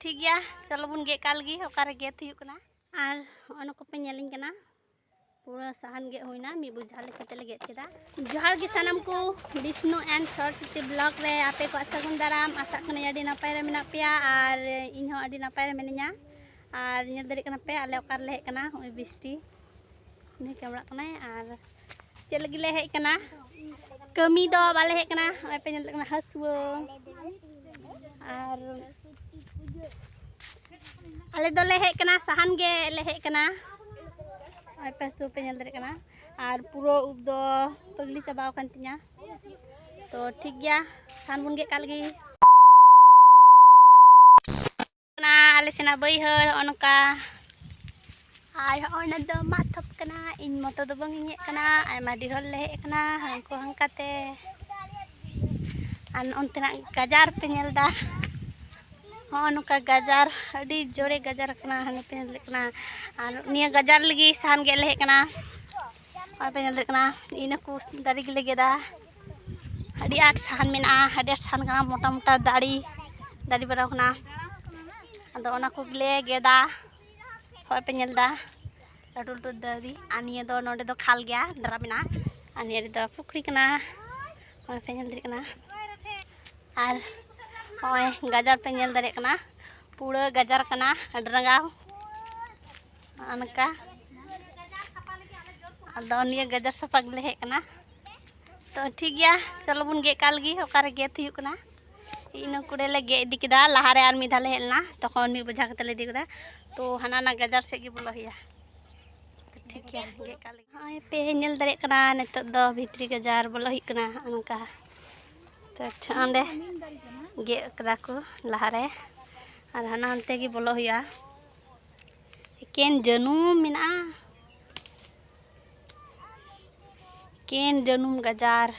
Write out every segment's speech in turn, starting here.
ᱴᱷᱤᱠ ᱜᱮᱭᱟ ᱪᱚᱞᱚ ᱵᱚᱱ ᱜᱮᱫ ᱠᱟᱜ ᱞᱟᱹᱜᱤᱫ ᱚᱠᱟᱨᱮ ᱜᱮᱫ ᱦᱩᱭᱩᱜ ᱠᱟᱱᱟ ᱟᱨ ᱚᱱᱟ ᱠᱚᱯᱮ ᱧᱮᱞᱤᱧ ᱠᱟᱱᱟ ᱯᱩᱨᱟᱹ ᱥᱟᱦᱟᱱ ᱜᱮᱫ ᱦᱩᱭᱱᱟ ᱢᱤᱫ ᱵᱩᱡᱷᱟ ᱞᱮᱠᱟ ᱛᱮᱞᱮ ᱜᱮᱫ ᱠᱮᱫᱟ ᱡᱚᱦᱟᱨ ᱜᱮ ᱥᱟᱱᱟᱢ ᱠᱚ ᱵᱤᱥᱱᱩ ᱮᱱᱰ ᱥᱚᱨᱚᱥᱚᱛᱤ ᱵᱞᱚᱜ ᱨᱮ ᱟᱯᱮ ᱠᱚᱣᱟᱜ ᱥᱟᱹᱜᱩᱱ ᱫᱟᱨᱟᱢ ᱟᱥᱟᱜ ᱠᱟᱹᱱᱟᱹᱧ ᱟᱹᱰᱤ ᱱᱟᱯᱟᱭ ᱨᱮ ᱢᱮᱱᱟᱜ ᱯᱮᱭᱟ ᱟᱨ ᱤᱧ ᱦᱚᱸ ᱟᱹᱰᱤ ᱱᱟᱯᱟᱭ ᱨᱮ ᱢᱤᱱᱟᱹᱧᱟ ᱟᱨ ᱧᱮᱞ ᱫᱟᱲᱮᱭᱟᱜ ᱠᱟᱱᱟ ᱯᱮ ᱟᱞᱮ ᱚᱠᱟ ᱨᱮᱞᱮ ᱦᱮᱡ ᱠᱟᱱᱟ ᱱᱚᱜᱼᱚᱭ ᱵᱤᱥᱴᱤ ᱩᱱᱤ ᱠᱮᱢᱲᱟᱜ ᱠᱟᱱᱟᱭ ᱟᱨ ᱪᱮᱫ ᱞᱟᱹᱜᱤᱫ ᱞᱮ ᱦᱮᱡ ᱠᱟᱱᱟ ᱠᱟᱹᱢᱤ ᱫᱚ ᱵᱟᱞᱮ ᱦᱮᱡ ᱠᱟᱱᱟ ᱱᱚᱜᱼᱚᱭ ᱯᱮ ᱧᱮᱞ ᱠᱟᱱᱟ ᱦᱟᱹᱥᱩᱣᱟᱹ ᱟᱨ ᱟᱞᱮ ᱫᱚᱞᱮ ᱦᱮᱡ ᱠᱟᱱᱟ ᱥᱟᱦᱟᱱ ᱜᱮ ᱞᱮ ᱦᱮᱡ ᱠᱟᱱᱟ ᱱᱚᱜᱼᱚᱭ ᱯᱮ ᱦᱟᱹᱥᱩᱣᱟᱹ ᱯᱮ ᱧᱮᱞ ᱫᱟᱲᱮᱭᱟᱜ ᱠᱟᱱᱟ ᱟᱨ ᱯᱩᱨᱟᱹ ᱩᱵ ᱫᱚ ᱯᱟᱹᱜᱽᱞᱤ ᱪᱟᱵᱟᱣ ᱟᱠᱟᱱ ᱛᱤᱧᱟ ᱛᱚ ᱴᱷᱤᱠ ᱜᱮᱭᱟ ᱥᱟᱦᱟᱱ ᱵᱚᱱ ᱜᱮᱫ ᱠᱟᱜ ᱞᱮᱜᱮ ᱠᱟᱱᱟ ᱟᱞᱮ ᱥᱮᱱᱟᱜ ᱵᱟᱹᱭᱦᱟᱹᱲ ᱦᱚᱸᱜᱼᱚ ᱱᱚᱝᱠᱟ ᱟᱨ ᱦᱚᱸᱜᱼᱚ ᱱᱟ ᱫᱚ ᱢᱟᱜ ᱛᱷᱚᱯ ᱠᱟᱱᱟ ᱤᱧ ᱢᱚᱛᱚ ᱫᱚ ᱵᱟᱝ ᱤᱧ ᱦᱮᱡ ᱠᱟᱱᱟ ᱟᱭᱢᱟ ᱰᱷᱮᱨ ᱦᱚᱲ ᱞᱮ ᱦᱮᱡ ᱠᱟᱱᱟ ᱦᱟᱱᱠᱩ ᱦᱟᱱᱠᱟᱛᱮ ᱟᱨ ᱚᱱᱛᱮᱱᱟᱜ ᱜᱟᱡᱟᱨ ᱯᱮ ᱧᱮᱞ ᱫᱟ ᱦᱚᱸᱜᱼᱚ ᱱᱚᱝᱠᱟ ᱜᱟᱡᱟᱨ ᱟᱹᱰᱤ ᱡᱳᱨᱮ ᱜᱟᱡᱟᱨ ᱠᱟᱱᱟ ᱦᱟᱱᱮ ᱯᱮ ᱧᱮᱞ ᱠᱟᱱᱟ ᱟᱨ ᱱᱤᱭᱟᱹ ᱜᱟᱡᱟᱨ ᱞᱟᱹᱜᱤᱫ ᱥᱟᱦᱟᱱ ᱜᱮᱫ ᱞᱮ ᱦᱮᱡ ᱠᱟᱱᱟ ᱦᱚᱸᱜᱼᱚᱭ ᱯᱮ ᱧᱮᱞ ᱫᱟᱲᱮᱭᱟᱜ ᱠᱟᱱᱟ ᱤᱱᱟᱹ ᱠᱚ ᱫᱟᱨᱮ ᱜᱮᱞᱮ ᱜᱮᱫᱟ ᱟᱹᱰᱤ ᱟᱸᱴ ᱥᱟᱦᱟᱱ ᱢᱮᱱᱟᱜᱼᱟ ᱟᱹᱰᱤ ᱟᱸᱴ ᱥᱟᱦᱟᱱ ᱠᱟᱱᱟ ᱢᱚᱴᱟ ᱢᱚᱴᱟ ᱫᱟᱨᱮ ᱫᱟᱨᱮ ᱵᱟᱲᱟ ᱠᱟᱱᱟ ᱟᱫᱚ ᱚᱱᱟ ᱠᱚᱜᱮᱞᱮ ᱜᱮᱫᱟ ᱦᱚᱸᱜᱼᱚᱭ ᱯᱮ ᱧᱮᱞ ᱮᱫᱟ ᱞᱟᱹᱴᱩ ᱞᱟᱹᱴᱩ ᱫᱟᱨᱮ ᱟᱨ ᱱᱤᱭᱟᱹ ᱫᱚ ᱱᱚᱰᱮ ᱫᱚ ᱠᱷᱟᱞ ᱜᱮᱭᱟ ᱫᱟᱨᱟ ᱢᱮᱱᱟᱜᱼᱟ ᱟᱨ ᱱᱤᱭᱟᱹ ᱨᱮᱫᱚ ᱯᱩᱠᱷᱨᱤ ᱠᱟᱱᱟ ᱦᱚᱸᱜᱼᱚᱭ ᱯᱮ ᱧᱮᱞ ᱫᱟᱲᱮᱭᱟᱜ ᱠᱟᱱᱟ ᱟᱨ ᱦᱚᱸᱜᱼᱚᱭ ᱜᱟᱡᱟᱲ ᱯᱮ ᱧᱮᱞ ᱫᱟᱲᱮᱭᱟᱜ ᱠᱟᱱᱟ ᱯᱩᱨᱟᱹ ᱜᱟᱡᱟᱲ ᱠᱟᱱᱟ ᱟᱹᱰᱤ ᱨᱟᱸᱜᱟᱣ ᱚᱱᱠᱟ ᱟᱫᱚ ᱱᱤᱭᱟᱹ ᱜᱟᱡᱟᱨ ᱥᱟᱯᱷᱟ ᱜᱮᱞᱮ ᱦᱮᱡ ᱠᱟᱱᱟ ᱛᱚ ᱴᱷᱤᱠ ᱜᱮᱭᱟ ᱪᱚᱞᱚ ᱵᱚᱱ ᱜᱮᱫ ᱠᱟᱜ ᱞᱮᱜᱮ ᱚᱠᱟᱨᱮ ᱜᱮᱫ ᱦᱩᱭᱩᱜ ᱠᱟᱱᱟ ᱤᱱᱟᱹ ᱠᱚᱲᱮ ᱞᱮ ᱜᱮᱫ ᱤᱫᱤ ᱠᱮᱫᱟ ᱞᱟᱦᱟᱨᱮ ᱟᱨ ᱢᱤᱫ ᱫᱷᱟᱣ ᱞᱮ ᱦᱮᱡ ᱞᱮᱱᱟ ᱛᱚᱠᱷᱚᱱ ᱢᱤᱫ ᱵᱚᱡᱷᱟ ᱠᱟᱛᱮ ᱞᱮ ᱤᱫᱤ ᱠᱮᱫᱟ ᱛᱚ ᱦᱟᱱᱟ ᱱᱟ ᱜᱟᱡᱟᱨ ᱥᱮᱫ ᱜᱮ ᱵᱚᱞᱚ ᱦᱩᱭᱩᱜᱼᱟ ᱴᱷᱤᱠ ᱜᱮᱭᱟ ᱜᱮᱫ ᱠᱟᱜ ᱞᱮᱜᱮ ᱱᱚᱜᱼᱚᱭ ᱯᱮ ᱧᱮᱞ ᱫᱟᱲᱮᱭᱟᱜ ᱠᱟᱱᱟ ᱱᱤᱛᱚᱜ ᱫᱚ ᱵᱷᱤᱛᱨᱤ ᱜᱟᱡᱟᱨ ᱵᱚᱞᱚ ᱦᱩᱭᱩᱜ ᱠᱟᱱᱟ ᱚᱱᱠᱟ ᱛᱚ ᱚᱸᱰᱮ ᱜᱮᱫ ᱠᱟᱫᱟ ᱠᱚ ᱞᱟᱦᱟᱨᱮ ᱟᱨ ᱦᱟᱱᱟ ᱦᱟᱱᱛᱮ ᱜᱮ ᱵᱚᱞᱚ ᱦᱩᱭᱩᱜᱼᱟ ᱮᱠᱮᱱ ᱡᱟᱹᱱᱩᱢ ᱢᱮᱱᱟᱜᱼᱟ ᱮᱠᱮᱱ ᱡᱟᱹᱱᱩᱢ ᱜᱟᱡᱟᱨ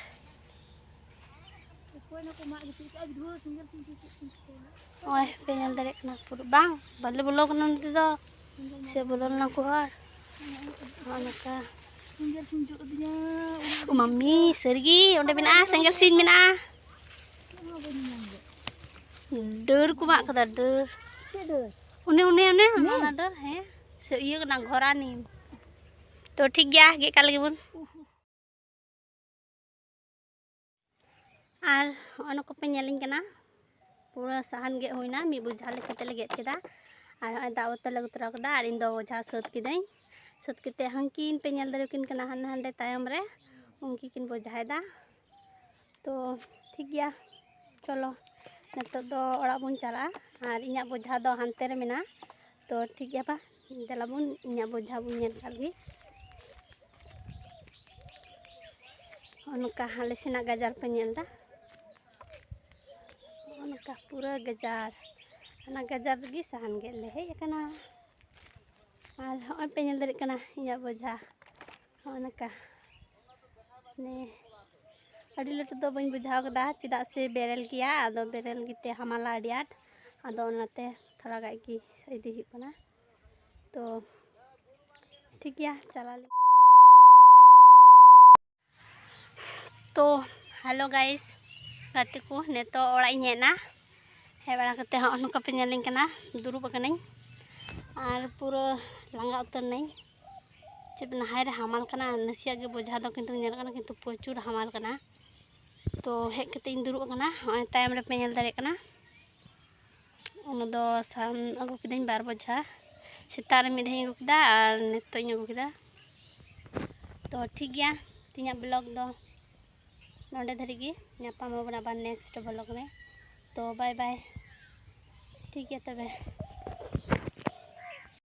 ᱱᱚᱜᱼᱚᱭ ᱯᱮ ᱧᱮᱞ ᱫᱟᱲᱮᱭᱟᱜ ᱠᱟᱱᱟ ᱯᱩᱨᱟᱹ ᱵᱟᱝ ᱵᱟᱞᱮ ᱵᱚᱞᱚ ᱠᱟᱱᱟ ᱱᱚᱛᱮ ᱫᱚ ᱥᱮ ᱵᱚᱞᱚ ᱞᱮᱱᱟ ᱠᱚ ᱦᱚᱲ ᱱᱚᱜᱼᱚ ᱱᱚᱝᱠᱟ ᱢᱟᱢᱤ ᱥᱟᱹᱨᱤᱜᱮ ᱚᱸᱰᱮ ᱢᱮᱱᱟᱜᱼᱟ ᱥᱮᱸᱜᱮᱞ ᱥᱤᱧ ᱢᱮᱱᱟᱜᱼᱟ ᱰᱟᱹᱨ ᱠᱚ ᱢᱟᱜ ᱠᱟᱫᱟ ᱰᱟᱹᱨ ᱚᱱᱮ ᱚᱱᱮ ᱚᱱᱮ ᱚᱱᱟ ᱰᱟᱹᱨ ᱦᱮᱸ ᱥᱮ ᱤᱭᱟᱹ ᱠᱟᱱᱟ ᱜᱷᱚᱨᱟ ᱱᱤᱢ ᱛᱚ ᱴᱷᱤᱠ ᱜᱮᱭᱟ ᱜᱮᱫ ᱠᱟᱜ ᱞᱟᱹᱜᱤᱫ ᱵᱚᱱ ᱟᱨ ᱚᱱᱟ ᱠᱚᱯᱮ ᱧᱮᱞᱤᱧ ᱠᱟᱱᱟ ᱯᱩᱨᱟᱹ ᱥᱟᱦᱟᱱ ᱜᱮᱫ ᱦᱩᱭᱱᱟ ᱢᱤᱫ ᱵᱚᱡᱷᱟ ᱞᱮᱠᱟᱛᱮ ᱞᱮ ᱜᱮᱫ ᱠᱮᱫᱟ ᱟᱨ ᱱᱚᱜᱼᱚᱭ ᱫᱟᱜ ᱵᱚᱛᱚᱞ ᱞᱮ ᱟᱹᱜᱩ ᱛᱚᱨᱟ ᱠᱮᱫᱟ ᱟᱨ ᱤᱧ ᱫᱚ ᱵᱚᱡᱷᱟ ᱥᱟᱹᱛ ᱠᱤᱫᱟᱹᱧ ᱥᱟᱹᱛ ᱠᱟᱛᱮᱫ ᱦᱟᱹᱱᱠᱤᱱ ᱯᱮ ᱧᱮᱞ ᱫᱟᱲᱮᱭᱟᱠᱤᱱ ᱠᱟᱱᱟ ᱦᱟᱱᱮ ᱦᱟᱸᱰᱮ ᱛᱟᱭᱚᱢ ᱨᱮ ᱩᱱᱠᱤᱱ ᱠᱤᱱ ᱵᱚᱡᱷᱟᱭᱮᱫᱟ ᱛᱚ ᱴᱷᱤᱠ ᱜᱮᱭᱟ ᱪᱚᱞᱚ ᱱᱤᱛᱚᱜ ᱫᱚ ᱚᱲᱟᱜ ᱵᱚᱱ ᱪᱟᱞᱟᱜᱼᱟ ᱟᱨ ᱤᱧᱟᱹᱜ ᱵᱚᱡᱷᱟ ᱫᱚ ᱦᱟᱱᱛᱮ ᱨᱮ ᱢᱮᱱᱟᱜᱼᱟ ᱛᱚ ᱴᱷᱤᱠ ᱜᱮᱭᱟ ᱵᱟ ᱫᱮᱞᱟ ᱵᱚᱱ ᱤᱧᱟᱹᱜ ᱵᱚᱡᱷᱟ ᱵᱚᱱ ᱧᱮᱞ ᱠᱟᱜ ᱜᱮ ᱚᱱᱠᱟ ᱟᱞᱮ ᱥᱮᱱᱟᱜ ᱜᱟᱡᱟᱲ ᱯᱮ ᱧᱮᱞ ᱮᱫᱟ ᱚᱱᱠᱟ ᱯᱩᱨᱟᱹ ᱜᱟᱡᱟᱲ ᱚᱱᱟ ᱜᱟᱡᱟᱲ ᱨᱮᱜᱮ ᱥᱟᱦᱟᱱ ᱜᱮᱫ ᱞᱮ ᱦᱮᱡ ᱟᱠᱟᱱᱟ ᱟᱨ ᱦᱚᱸᱜᱼᱚᱭ ᱯᱮ ᱧᱮᱞ ᱫᱟᱲᱮᱭᱟᱜ ᱠᱟᱱᱟ ᱤᱧᱟᱹᱜ ᱵᱚᱡᱷᱟ ᱦᱚᱸᱜᱼᱚ ᱱᱚᱝᱠᱟ ᱢᱟᱱᱮ ᱟᱹᱰᱤ ᱞᱟᱹᱴᱩ ᱫᱚ ᱵᱟᱹᱧ ᱵᱩᱡᱷᱟᱹᱣ ᱠᱟᱫᱟ ᱪᱮᱫᱟᱜ ᱥᱮ ᱵᱮᱨᱮᱞ ᱜᱮᱭᱟ ᱟᱫᱚ ᱵᱮᱨᱮᱞ ᱜᱮᱛᱮ ᱦᱟᱢᱟᱞᱟ ᱟᱹᱰᱤ ᱟᱸᱴ ᱟᱫᱚ ᱚᱱᱟᱛᱮ ᱛᱷᱚᱲᱟ ᱜᱟᱱ ᱜᱮ ᱤᱫᱤ ᱦᱩᱭᱩᱜ ᱠᱟᱱᱟ ᱛᱚ ᱴᱷᱤᱠ ᱜᱮᱭᱟ ᱪᱟᱞᱟᱣ ᱞᱮ ᱛᱚ ᱦᱮᱞᱳ ᱜᱟᱭᱤᱥ ᱜᱟᱛᱮ ᱠᱚ ᱱᱤᱛᱚᱜ ᱚᱲᱟᱜ ᱤᱧ ᱦᱮᱡ ᱮᱱᱟ ᱦᱮᱡ ᱵᱟᱲᱟ ᱠᱟᱛᱮ ᱦᱚᱸᱜᱼᱚ ᱱᱚᱝᱠᱟ ᱯᱮ ᱧᱮᱞᱤᱧ ᱠᱟᱱᱟ ᱫᱩᱲᱩᱵ ᱟᱠᱟᱱᱟᱹᱧ ᱟᱨ ᱯᱩᱨᱟᱹ ᱞᱟᱸᱜᱟ ᱩᱛᱟᱹᱨ ᱱᱟᱹᱧ ᱪᱮᱫ ᱯᱮ ᱱᱟᱦᱟᱭ ᱨᱮ ᱦᱟᱢᱟᱞ ᱠᱟᱱᱟ ᱱᱟᱥᱮᱭᱟᱜ ᱜᱮ ᱵᱚᱡᱷᱟ ᱫᱚ ᱠᱤᱱᱛᱩ ᱧᱮᱞᱚᱜ ᱠᱟᱱᱟ ᱠᱤᱱᱛᱩ ᱯᱨᱚᱪᱩᱨ ᱦᱟᱢᱟᱞ ᱠᱟᱱᱟ ᱛᱚ ᱦᱮᱡ ᱠᱟᱛᱮ ᱤᱧ ᱫᱩᱲᱩᱵ ᱟᱠᱟᱱᱟ ᱦᱚᱸᱜᱼᱚᱭ ᱛᱟᱭᱚᱢ ᱨᱮᱯᱮ ᱧᱮᱞ ᱫᱟᱲᱮᱭᱟᱜ ᱠᱟᱱᱟ ᱚᱱᱟ ᱫᱚ ᱥᱟᱦᱟᱱ ᱟᱹᱜᱩ ᱠᱤᱫᱟᱹᱧ ᱵᱟᱨ ᱵᱚᱡᱷᱟ ᱥᱮᱛᱟᱜ ᱨᱮ ᱢᱤᱫ ᱫᱷᱟᱣ ᱤᱧ ᱟᱹᱜᱩ ᱠᱮᱫᱟ ᱟᱨ ᱱᱤᱛᱚᱜ ᱤᱧ ᱟᱹᱜᱩ ᱠᱮᱫᱟ ᱛᱚ ᱴᱷᱤᱠ ᱜᱮᱭᱟ ᱛᱤᱧᱟᱹᱜ ᱵᱞᱚᱜ ᱫᱚ ᱱᱚᱰᱮ ᱫᱷᱟᱹᱨᱤᱡ ᱜᱮ ᱧᱟᱯᱟᱢ ᱟᱵᱚᱱ ᱟᱵᱟᱨ ᱱᱮᱠᱥᱴ ᱵᱞᱚᱜ ᱨᱮ ᱛᱚ ᱵᱟᱭ ᱵᱟᱭ ᱴᱷᱤᱠ ᱜᱮᱭᱟ ᱛᱚᱵᱮ